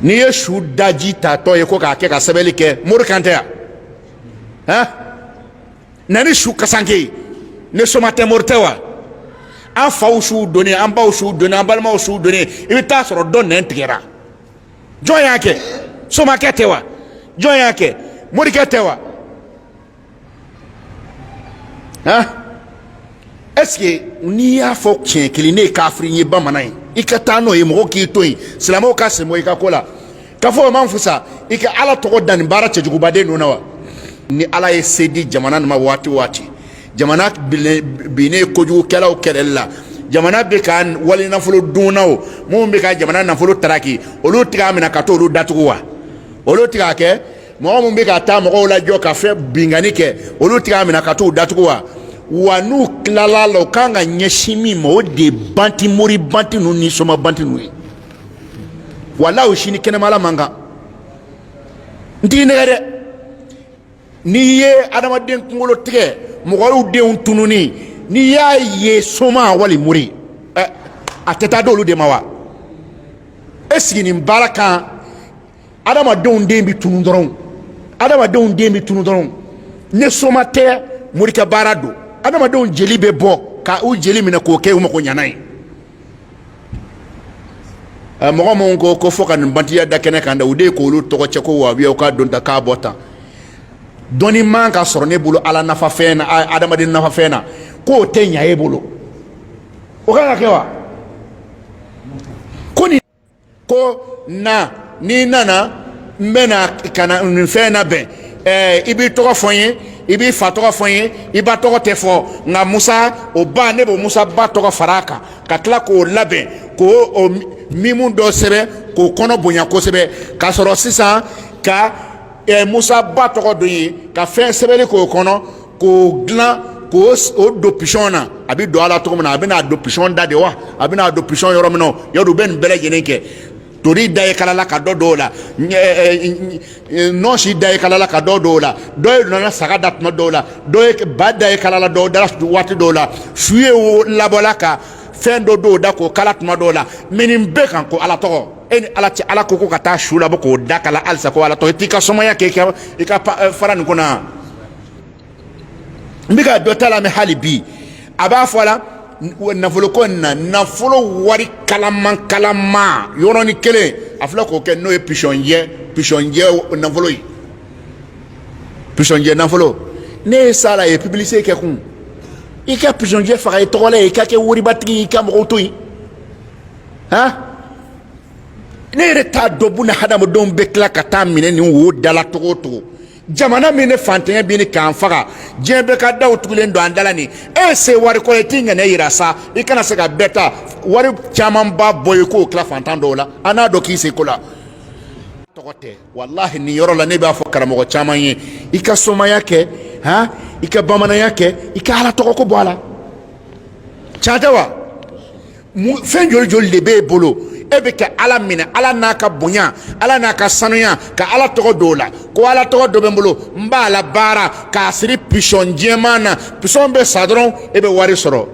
n'i ye su daji tatɔ ye ko k'a kɛ ka sɛbɛnni kɛ mori kan tɛ yan han na ni su kasanke ye ni soma tɛ mori tɛ wa an faw suw donnen an baw suw donnen an balimaw suw donnen i bɛ taa sɔrɔ dɔ nɛn tigɛra jɔn y'a kɛ somakɛ tɛ wa jɔn y'a kɛ morikɛ tɛ wa han ɛseke n'i y'a fɔ tiɲɛ kelen ne ye kafiri ye bamanan ye i ka taa n'o ye mɔgɔ k'i to yen silamɛw ka sɛmɔ i ka ko la k'a fɔ o man fusa i ka ala tɔgɔ da nin baara cɛjugubaden ninnu na wa ni ala ye se di jamana nin ma waati o waati jamana binnen kojugukɛlaw kɛlɛli la jamana bɛ ka wali nafolo dunnaw minnu bɛ ka jamana nafolo taraki olu tɛ k'a minɛ ka t'olu datugu wa olu tɛ k'a kɛ mɔgɔ min bɛ ka taa mɔgɔw lajɔ ka fɛn binkanni kɛ olu tɛ k'a minɛ ka t'u datugu wa wa n'u tilala la u kan ka ɲɛsin min ma o de ye banti mori banti ninnu ni soma banti ninnu ye walahi o sini kɛnɛmala man kan n t'i nɛgɛn dɛ n'i ye adamaden kunkolotigɛ mɔgɔw denw tununi n'i y'a ye soma wali mori ɛ a tɛ taa d'olu de ma wa ɛseke nin baara kan adamadenw den bɛ tunu dɔrɔn adamadenw den bɛ tunu dɔrɔn ni soma tɛ morikɛ baara don adamadenw jeli bɛ bɔ ka u jeli minɛ k'o kɛ u magoɲanan ye eh, mɔgɔ minnu ko k'o fɔ ka nin bantiya da kɛnɛ kan dɛ u de ye k'olu tɔgɔ cɛn ko wahabiyaw ka don tan ka bɔ tan dɔnni man ka sɔrɔ ne bolo ala nafa fɛn na adamaden nafa fɛn na k'o tɛ ɲa e bolo o kan ka kɛ wa ko na n'i nana n bɛ na ka na nin fɛn labɛn ɛɛ i b'i tɔgɔ fɔ n ye i b'i fa tɔgɔ fɔ n ye i ba tɔgɔ tɛ fɔ nka musa o ba ne b'o musa ba tɔgɔ fara a kan ka tila k'o labɛn k'o o mimu dɔ sɛbɛn k'o kɔnɔ bonya kosɛbɛ k'a sɔrɔ sisan ka ɛɛ musa ba tɔgɔ don yen ka fɛn sɛbɛnni k'o kɔnɔ k'o dilan k'o o don pisɔn na a bɛ don a la cogo min na a bɛ n'a don pisɔn da de wa a bɛ n'a don pisɔn yɔrɔ min na yɔrɔ u bɛ nin bɛɛ lajɛlen kɛ tori da ye kalala ka don dɔw la nɔnsi da ye kalala ka don dɔw la dɔ ye nana saga da tuma dɔw la dɔ ba da ye kalala dɔw da waati dɔw la su ye wo labɔla ka fɛn don dɔw da k'o kala tuma dɔw la mɛ nin bɛɛ kan ko ala tɔgɔ e ni ala cɛ ala ko ko ka taa su labɔ k'o da kala halisa ko ala tɔgɔ i t'i ka somaya kɛ i ka fara nin kɔnɔ n bɛ ka dɔ ta la mɛ hali bi a b'a fɔ a la nafoloko in na nafolo wari kalaman kalaman yɔrɔnin kelen a filɛ k'o kɛ n'o ye pisɔnjɛ pisɔnjɛ nafolo ye pisɔnjɛ nafolo n'e ye s'a la a ye pibilisite kɛ kun i ka pisɔnjɛ faga i tɔgɔ la yen i ka kɛ waribatigi ye i ka mɔgɔw to yen han ne yɛrɛ t'a dɔn buna hadamadenw bɛ tila ka taa minɛ nin wo dala togo o togo jamana min ni fantanya bɛ ɲini k'an faga diɲɛ bɛɛ ka daw tugulen don an da la nin e ye se wari kɔrɔ i t'i ŋɛnɛ yira sa i kana se ka bɛɛ ta wari camanba bɔ yen k'o tila fantan dɔw la an n'a dɔn k'i se ko la tɔgɔ tɛ walahi nin yɔrɔ la ne b'a fɔ karamɔgɔ caman ye i ka somaya kɛ han i ka bamananya kɛ i ka ala tɔgɔ ko bɔ a la can tɛ wa fɛn joli joli de b'e bolo e bɛ ka ala minɛ ala n'a ka bonya ala n'a ka sanuya ka ala tɔgɔ don a la ko ala tɔgɔ dɔ bɛ n bolo n b'a labaara k'a siri pisɔn jɛman na pisɔn bɛ sa dɔrɔn e bɛ wari sɔrɔ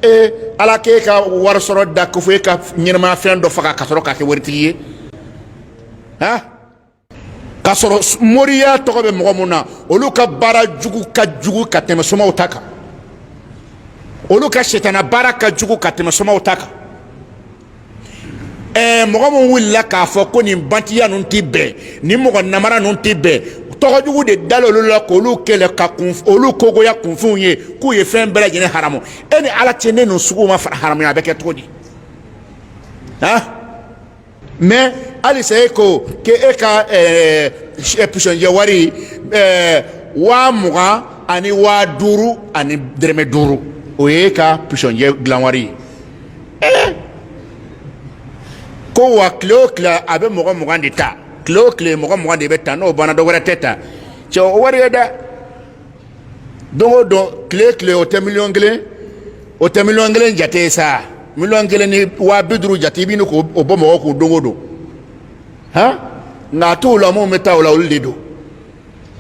e ala k'e ka wari sɔrɔda ko fo e ka ɲɛnamaya fɛn dɔ faga ka sɔrɔ ka kɛ waritigi ye han k'a sɔrɔ moriya tɔgɔ bɛ mɔgɔ mun na olu ka baara jugu ka jugu ka tɛmɛ somaw ta kan olu ka sitana baara ka jugu ka tɛmɛ somaw ta kan ɛɛ mɔgɔ min wulila k'a fɔ ko nin bantiya ninnu tɛ bɛn nin mɔgɔ namara ninnu tɛ bɛn tɔgɔ jugu de dala olu la k'olu kɛlɛ ka kun olu kogoya kunfinw ye k'u ye fɛn bɛɛ lajɛlen haramu e ni ala cɛ ni ninnu suguw ma hara haramuya a bɛ kɛ cogo di han. mɛ halisa e ko k'e e ka pisɔnjɛ wari waa mugan ani waa duuru ani dɛrɛmɛ duuru o ye i ka pisɔnjɛ dilan wari ye ko wa tile o tile a bɛ mɔgɔ mugan de ta tile o tile mɔgɔ mugan de bɛ ta n'o banna dɔ wɛrɛ tɛ ta cɛ o wari ye dɛ don o don tile tile o tɛ miliyɔn kelen o tɛ miliyɔn kelen jate ye sa miliyɔn kelen ni waa bi duuru jate i bɛ ɲini k'o bɔ mɔgɔ kun don o don han nka a t'o la minnu bɛ taa o la olu de don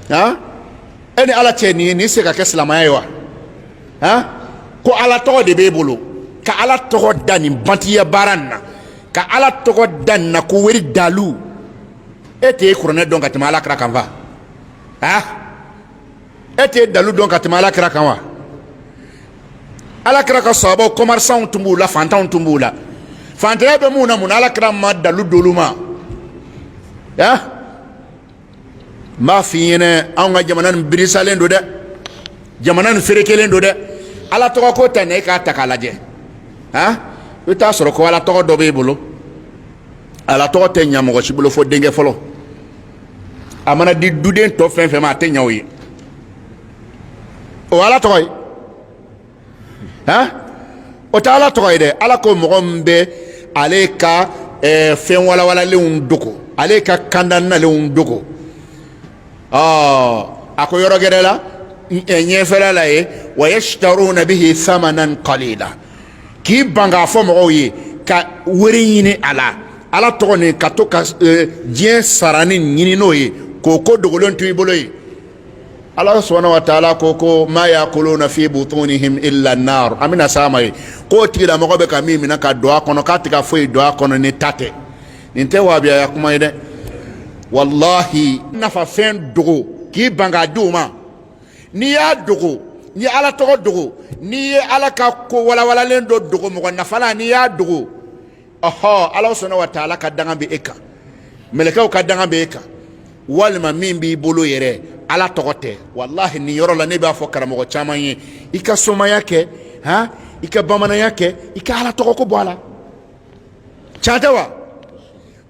han e ni ala cɛ nin ye nin se ka kɛ silamɛya ye wa han ko ala tɔgɔ de b'e bolo ka ala tɔgɔ da nin bantiya baara nin na ka ala tɔgɔ da nin na ko wari dalu e tɛ e kuranɛ dɔn ka tɛmɛ ala kira kan wa ah e tɛ dalu dɔn ka tɛmɛ ala kira kan wa ala kira ka sahabaw kɔmarisanw tun b'u la fantanw tun b'u la fantanya bɛ mun na mun na ala kira ma dalu d'olu ma ya n b'a f'i ɲɛna anw ka jamana nin birisalen don dɛ jamana nin ferekelen don dɛ ala tɔgɔ ko tan i k'a ta k'a lajɛ han i bɛ t'a sɔrɔ ko ala tɔgɔ dɔ b'e bolo ala tɔgɔ tɛ ɲa mɔgɔ si bolo fo denkɛ fɔlɔ a mana di duden tɔ fɛn fɛn ma a tɛ ɲɛ o ye o ala tɔgɔ ye han o tɛ ala tɔgɔ ye dɛ ala ko mɔgɔ min bɛ ale ka eh, fɛn walawalalenw dogo ale ka kanda nalenw dogo ɔɔ a ko yɔrɔ gɛrɛ la ɲɛfɛla la ye wa yashtaruna bihi samanan qalila k'i ban k'a fɔ mɔgɔw ye ka wari ɲini a la ala tɔgɔ nin ka to ka e, diɲɛ sarani ɲini n'o ye k'o ko dogolen to i bolo ye ala subhanahu wa taala ko ko ma yakuluna fi butunihim illa nar an bɛna s'a ma yen k'o tigilamɔgɔ bɛ ka min minɛ ka don a kɔnɔ k'a tɛ ka foyi don a kɔnɔ ni ta tɛ nin tɛ waabiyaya kuma ye dɛ walahi nafa fɛn dogo k'i ban k'a di u ma n'i y'a dogo n'i ye ala tɔgɔ dogo n'i ye ala ka ko walawalalen dɔ dogo mɔgɔ nafalan n'i y'a dogo ɔhɔ ala subhanahu wa taala ka danga bɛ e kan mɛlɛkɛw ka danga bɛ e kan walima min b'i bolo yɛrɛ ala tɔgɔ tɛ walahi nin yɔrɔ la ne b'a fɔ karamɔgɔ caman ye i ka somaya kɛ h i ka bamananya kɛ i ka ala tɔgɔ ko bɔ a la can tɛ wa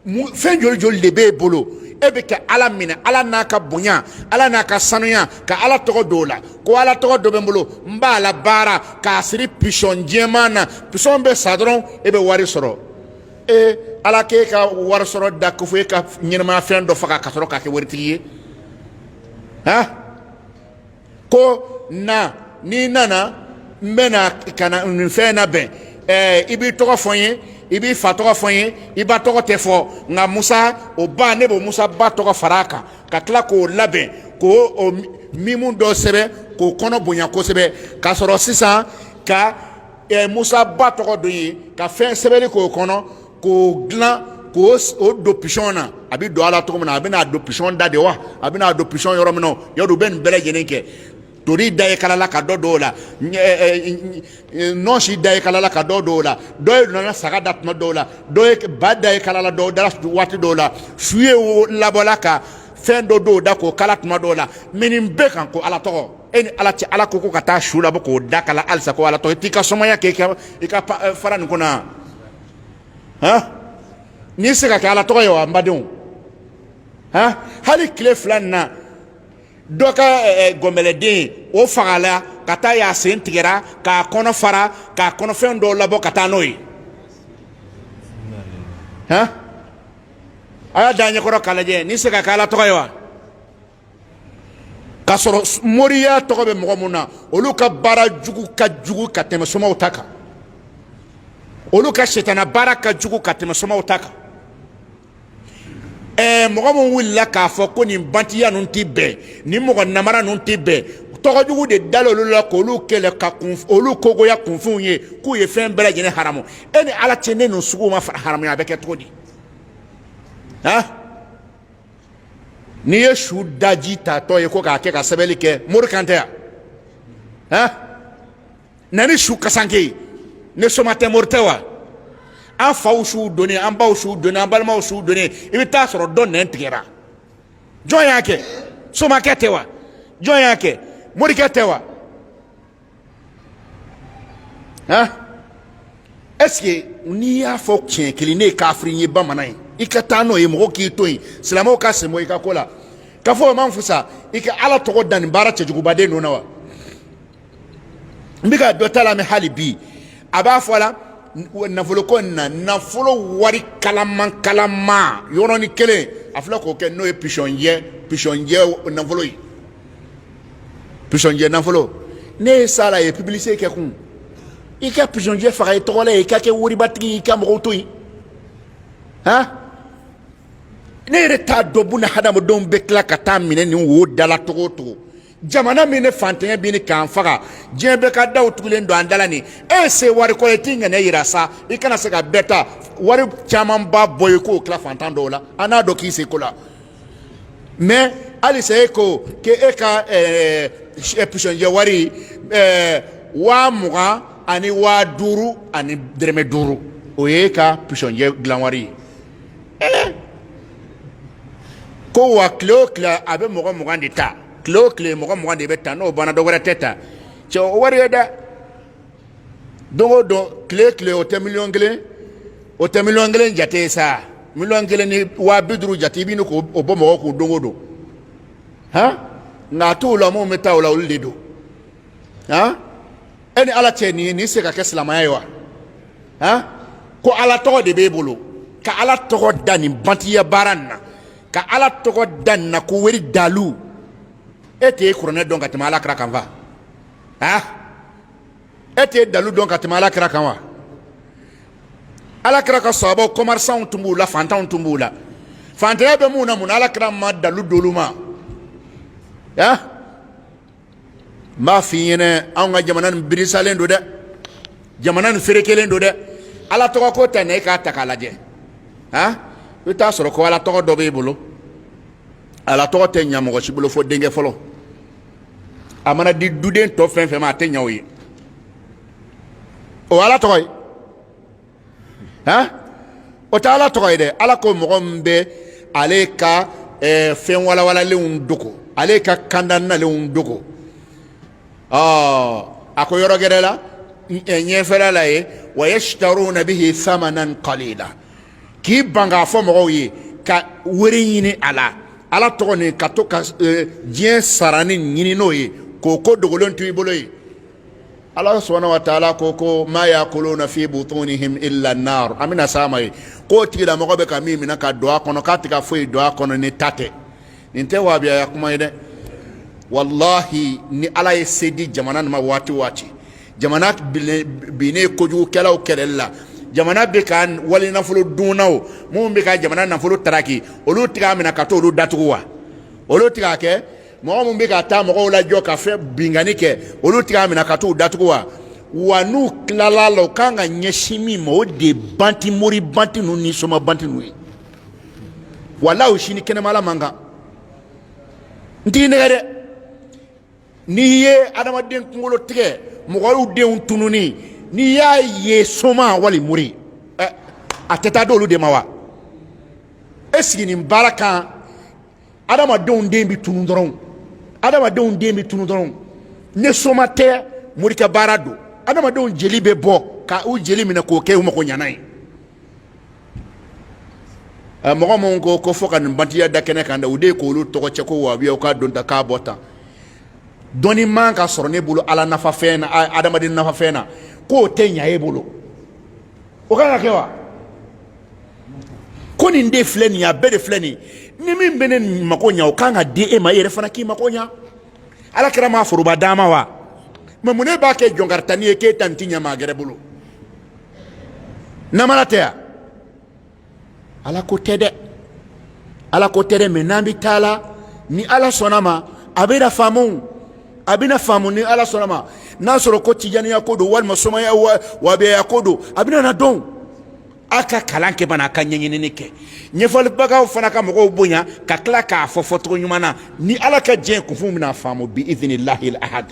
fɛn joli joli de b'e bolo e bɛ kɛ ala minɛ ala n'a ka bonya ala n'a ka sanuya ka ala tɔgɔ don o la ko ala tɔgɔ dɔ bɛ n bolo n b'a labaara k'a siri pisɔn jɛman na pisɔn bɛ sa dɔrɔn e bɛ wari sɔrɔ e ala k'e ka wari sɔrɔ da ko fo e ka ɲɛnamaya fɛn dɔ faga ka sɔrɔ k'a kɛ waritigi ye han ko na n'i nana n bɛ na ka na nin fɛn labɛn ɛɛ i b'i tɔgɔ fɔ n ye i b'i fa tɔgɔ fɔ n ye i ba tɔgɔ tɛ fɔ nka musa o ba ne b'o musa ba tɔgɔ fara a kan ka tila k'o labɛn k'o o mimu dɔ sɛbɛn k'o kɔnɔ bonya kosɛbɛ ka sɔrɔ sisan ka ɛɛ musa ba tɔgɔ don yen ka fɛn sɛbɛnni k'o kɔnɔ k'o dilan k'o o don pisɔn na a bɛ don a la cogo min na a bɛ n'a don pisɔn da de wa a bɛ n'a don pisɔn yɔrɔ min na yɔrɔ u bɛ nin bɛɛ lajɛlen kɛ tori da ye kalala ka dɔ don o la nɔnsi da ye kalala ka dɔ don o la dɔ ye nana saga da tuma dɔw la dɔ ba da ye kalala dɔw da waati dɔw la su ye wo labɔla ka fɛn dɔ don o da k'o kala tuma dɔw la mɛ nin bɛɛ kan ko ala tɔgɔ e ni ala cɛ ala ko ko ka taa su labɔ k'o da kala halisa ko ala tɔgɔ i t'i ka somaya kɛ i ka fara nin kɔnɔ han nin bɛ se ka kɛ ala tɔgɔ ye wa n badenw han hali tile fila nin na dɔ ka gɔnbɛlɛden o fagala ka taa y'a sen tigɛra k'a kɔnɔ fara k'a kɔnɔfɛn dɔw labɔ ka taa n'o ye han a y'a da ɲɛkɔrɔ k'a lajɛ nin bɛ se ka kɛ ala tɔgɔ ye wa k'a sɔrɔ moriya tɔgɔ bɛ mɔgɔ min na olu ka baara jugu ka jugu ka tɛmɛ somaw ta kan olu ka sitana baara ka jugu ka tɛmɛ somaw ta kan ɛɛ mɔgɔ min wulila k'a fɔ ko nin bantiya ninnu tɛ bɛn nin mɔgɔ namara ninnu tɛ bɛn tɔgɔ jugu de dalen olu la k'olu kɛlɛ ka k'olu kogoya kunfinw ye k'u ye fɛn bɛɛ lajɛlen haramu e ni ala cɛ ni ninnu suguw ma haramuya a bɛ kɛ cogo di han n'i ye su daji tatɔ ye ko k'a kɛ ka sɛbɛnni kɛ mori kan tɛ yan han na ni su kasanke ye ni soma tɛ mori tɛ wa an faw suw donnen an baw suw donnen an balimaw suw donnen i bɛ taa sɔrɔ dɔ nɛn tigɛra jɔn y'a kɛ somakɛ tɛ wa jɔn y'a kɛ morikɛ tɛ wa han ɛseke n'i y'a fɔ tiɲɛ kelen ne ye kafiri ye bamanan ye i ka taa n'o ye mɔgɔ k'i to yen silamɛw ka sen bɔ i ka ko la k'a fɔ o man fusa i ka ala tɔgɔ da nin baara cɛjugubaden ninnu na wa n bɛ ka dɔ ta lamɛn hali bi a b'a fɔ a la nafolo ko in na nafolo wari kalaman kalaman yɔrɔnin kelen a filɛ k'o kɛ n'o ye pisɔnjɛ pisɔnjɛ nafolo ye pisɔnjɛ nafolo ne ye s'a la ye pibilisite kɛ kun i ka pisɔnjɛ faga i tɔgɔ la yen i ka kɛ waribatigi ye i ka mɔgɔw to yen han ne yɛrɛ t'a dɔn buna hadamadenw bɛ tila ka taa minɛ nin wo dala cogo o cogo jamana min ni fantanya bɛ ɲini k'an faga diɲɛ bɛɛ ka daw tugulen don an da la ni e se wari kɔrɔ i t'i ŋɛnɛ yira sa i kana se ka bɛɛ ta wari caman ba bɔ i k'o tila fantan dɔw la an n'a dɔn k'i se ko la mɛ halisa e ko k' e ka pisɔnjɛ wari waa mugan ani waa duuru ani dɔrɔmɛ duuru o ye i ka pisɔnjɛ dilan wari ye ko wa tile o tile a bɛ mɔgɔ mugan de ta tile o tile mɔgɔ mugan de bɛ ta n'o banna dɔ wɛrɛ tɛ ta cɛ o wari ye dɛ don o don tile tile o tɛ miliyɔn kelen o tɛ miliyɔn kelen jate ye sa miliyɔn kelen ni waa bi duuru jate i bɛ k'o bɔ mɔgɔ kun don o don han nka a t'o la minnu bɛ taa o la olu de don han e ni ala cɛ nin ye nin se ka kɛ silamɛya ye wa han ko ala tɔgɔ de b'e bolo ka ala tɔgɔ da nin bantiya baara nin na ka ala tɔgɔ da nin na ko wari dalu e tɛ kuranɛ dɔn ka tɛmɛ ala kira kan fa ah e tɛ dalu dɔn ka tɛmɛ ala kira kan wa ala kira ka sahabaw kɔmɛrisanw tun b'u la fantanw tun b'u la fantanya bɛ minnu na mun na ala kira ma dalu d'olu ma ya n b'a f'i ɲɛna anw ka jamana nin birisalen don dɛ jamana nin ferekelen don dɛ ala tɔgɔ ko tɛ na e k'a ta k'a lajɛ a i t'a sɔrɔ ko ala tɔgɔ dɔ b'e bolo ala tɔgɔ tɛ ɲa mɔgɔ si bolo fo denkɛ fɔlɔ a mana di duden tɔ fɛn fɛn ma a tɛ ɲa o ye o ala tɔgɔ ye han o tɛ ala tɔgɔ ye dɛ ala ko mɔgɔ min bɛ ale ka eh, fɛn walawalalenw dogo ale ka kanda nalenw dogo ɔ a ko yɔrɔ gɛrɛ la ɲɛfɛla la ye wa yashtaruna bihi samanan qalila k'i ban k'a fɔ mɔgɔw ye ka wari ɲini a la ala tɔgɔ nin ka to ka e, diɲɛ saranin ɲini n'o ye k'o ko dogolen to i bolo ye ala subhanahu wa taala ko ko ma yakuluna fi butunihim illa nar an bɛna s'a ma ye k'o tigilamɔgɔ bɛ ka min minɛ ka don a kɔnɔ k'a tɛ ka foyi don a kɔnɔ ni ta tɛ nin tɛ wabiyaya kuma ye dɛ walahi ni ala ye se di jamana ma waati waati jamana binnen kojugukɛlaw kɛlɛli la jamana bɛ ka wali nafolo dunnaw minnu bɛ ka jamana nafolo taraki olu tɛ ka minɛ ka t'olu datugu wa olu tɛ ka kɛ mɔgɔ minnu bɛ ka taa mɔgɔw lajɔ ka fɛn binkanni kɛ olu tɛ ka minɛ ka t'u datugu wa wa n'u tilala la u kan ka ɲɛsin min ma o de banti mori banti ninnu ni soma banti ninnu ye wala u si ni kɛnɛmala man kan n t'i nɛgɛn dɛ n'i ye adamaden kunkolo tigɛ mɔgɔw denw tununi n'i y'a ye soma wali mori ɛ a tɛ taa d'olu de ma wa e siginin baara kan adamadenw den bɛ tunu dɔrɔn adamadenw den bɛ tunu dɔrɔn ni soma tɛ mori ka baara don adamadenw jeli bɛ bɔ ka u jeli minɛ k'o kɛ u magoɲanan ye mɔgɔ minnu ko ko fɔ ka nin bantiya da kɛnɛ kan da u de ye k'olu tɔgɔ cɛ ko wabiya u k'a don ta k'a bɔ tan dɔnni man ka sɔrɔ ne bolo ala nafa fɛn na adamaden nafa fɛn na k'o tɛ ɲa e bolo o kan ka kɛ wa ko nin de filɛ nin ye a bɛɛ de filɛ nin ni min bɛ ne mako ɲa o kan ka di e ma e yɛrɛ fana k'i mako ɲa ala kira ma foroba d'a ma wa mɛ mun ne b'a kɛ jɔnkaritani ye k'e ta nin tɛ ɲa maa gɛrɛ bolo namara tɛ yan ala ko tɛ dɛ ala ko tɛ dɛ mɛ n'an bɛ taa la ni ala sɔnna ma a bɛ na faamu a bɛ na faamu ni ala sɔnna ma n'a sɔrɔ ko tijaniya ko don walima somaya wabiyaya ko don a bɛ na dɔn a ka kalan kɛ bana a ka ɲɛɲinini kɛ ɲɛfɔlibagaw fana ka mɔgɔw bonya ka tila k'a fɔ fɔcogo ɲuman na ni ala ka diɲɛ kunfin bɛna faamu bi izinilahi ahad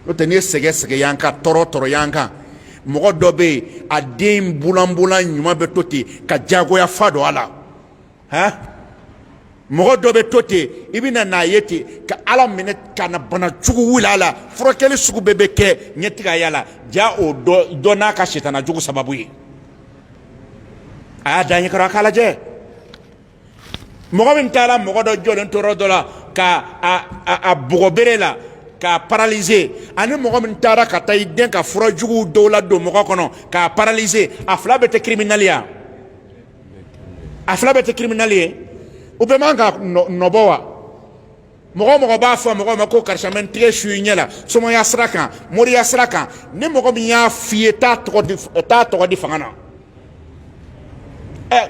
o tɛ ne ye sɛgɛ sɛgɛ yan kan tɔɔrɔ tɔɔrɔ yan kan mɔgɔ dɔ bɛ yen a den bulanbulan ɲuman bɛ to ten ka jagoya fa don a la han mɔgɔ dɔ bɛ to ten i bɛ na n'a ye ten ka ala minɛ ka na bana jugu wuli a la furakɛli sugu bɛɛ bɛ kɛ ɲɛ tɛ ka y'a la jaa o dɔ n'a ka sitana jugu sababu ye a y'a da ɲɛ kɔrɔ a k'a lajɛ mɔgɔ min taara mɔgɔ dɔ jɔlen to yɔrɔ dɔ la ka a bugɔ bere la k'a paralize ani mɔgɔ min taara ka taa i den ka fura jugu dɔ ladon mɔgɔ kɔnɔ k'a paralize a fila bɛɛ tɛ kiriminali ya a fila bɛɛ tɛ kiriminali ye u bɛɛ man ka nɔbɔ wa mɔgɔ o mɔgɔ b'a fɔ mɔgɔ ma ko karisa n bɛ n tɛgɛ su i ɲɛ la somaya sira kan moriya sira kan ni mɔgɔ min y'a f'i ye t'a tɔgɔ di fanga na ɛ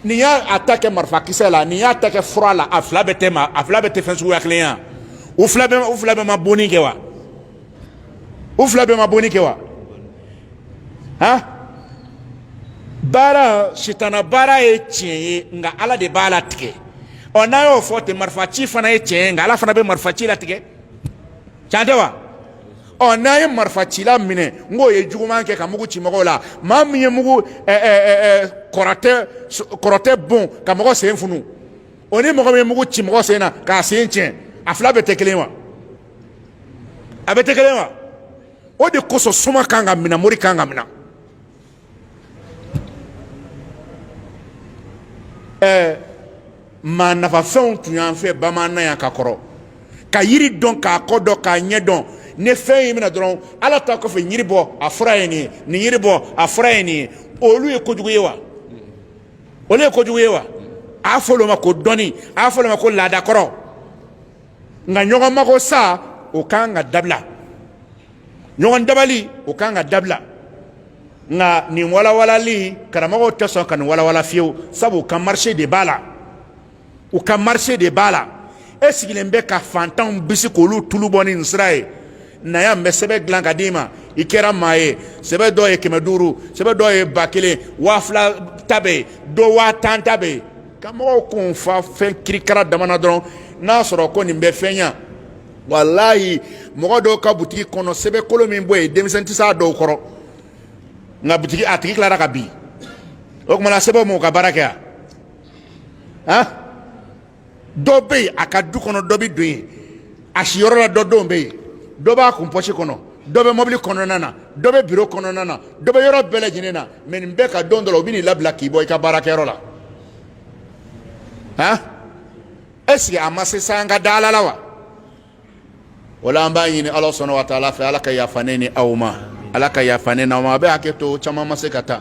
nin y'a ta kɛ marifakisɛ la nin y'a ta kɛ fura la a fila bɛɛ tɛ fɛn suguya kelen ye u fila bɛɛ ma bonni kɛ wa u fila bɛɛ ma bonni kɛ wa han baara sitana baara ye tiɲɛ ye nka ala de b'a latigɛ ɔ n'an y'o fɔ ten marifa ci fana ye tiɲɛ ye nka ala fana bɛ marifa ci latigɛ can tɛ wa ɔ n'an ye marifa cila minɛ n k'o ye juguman kɛ ka mugu ci mɔgɔw la maa min ye mugu kɔrɔtɛ bon ka mɔgɔ sen funu o ni mɔgɔ min ye mugu ci mɔgɔ sen na k'a sen tiɲɛ a fila bɛɛ tɛ kelen wa a bɛɛ tɛ kelen wa o de kosɔn soma kan ka minɛ mori kan ka minɛ ɛɛ maa nafafɛnw tun y'an fɛ bamananya ka kɔrɔ ka yiri dɔn k'a kɔ dɔn k'a ɲɛ dɔn ni fɛn y'i minɛ dɔrɔn ala ta kɔfɛ yiri bɔ a fura ye nin ye nin yiri bɔ a fura ye nin ye olu ye kojugu ye wa olu ye kojugu ye wa a y'a fɔ olu ma ko dɔnni a y'a fɔ olu ma ko laadakɔrɔ nka ɲɔgɔn mago sa o kan ka dabila ɲɔgɔn dabali o kan ka dabila nka nin walawalali karamɔgɔw tɛ sɔn ka nin walawala fiyewu sabu u ka marise de b'a la u ka marise de b'a la e sigilen bɛ ka fantanw bisi k'olu tulu bɔ ni nin sira ye na yan n bɛ sɛbɛn dilan ka d'i ma i kɛra maa ye sɛbɛn dɔw ye kɛmɛ duuru sɛbɛn dɔw ye ba kelen waa fila ta bɛ yen dɔ waa tan ta bɛ yen ka mɔgɔw kun fa fɛn kirikara damana dɔrɔn n'a sɔrɔ ko nin bɛ fɛn ɲa walayi mɔgɔ dɔw ka butigi kɔnɔ sɛbɛn kolo min bɔ yen denmisɛn tɛ s'a dɔw kɔrɔ nka butigi a tigi tilara ka bin o tumana sɛbɛnw m'u ka baara kɛ yan han dɔ bɛ yen a ka du kɔnɔ dɔ bɛ don yen a siyɔrɔ la dɔ denw bɛ yen dɔ b'a kun pɔsi kɔnɔ dɔ bɛ mɔbili kɔnɔna na dɔ bɛ biro kɔnɔna na dɔ bɛ yɔrɔ bɛɛ lajɛlen na mɛ nin bɛɛ ka don dɔ la u bɛ n'i labila k'i bɔ i ka baarakɛyɔrɔ la han ɛseke a ma se sa an ka da ala la wa o la an b'a ɲini ala subahana wa taala fɛ ala ka yafa ne ni aw ma ala ka yafa ne n'aw ma a bɛ hakɛ to caman ma se ka taa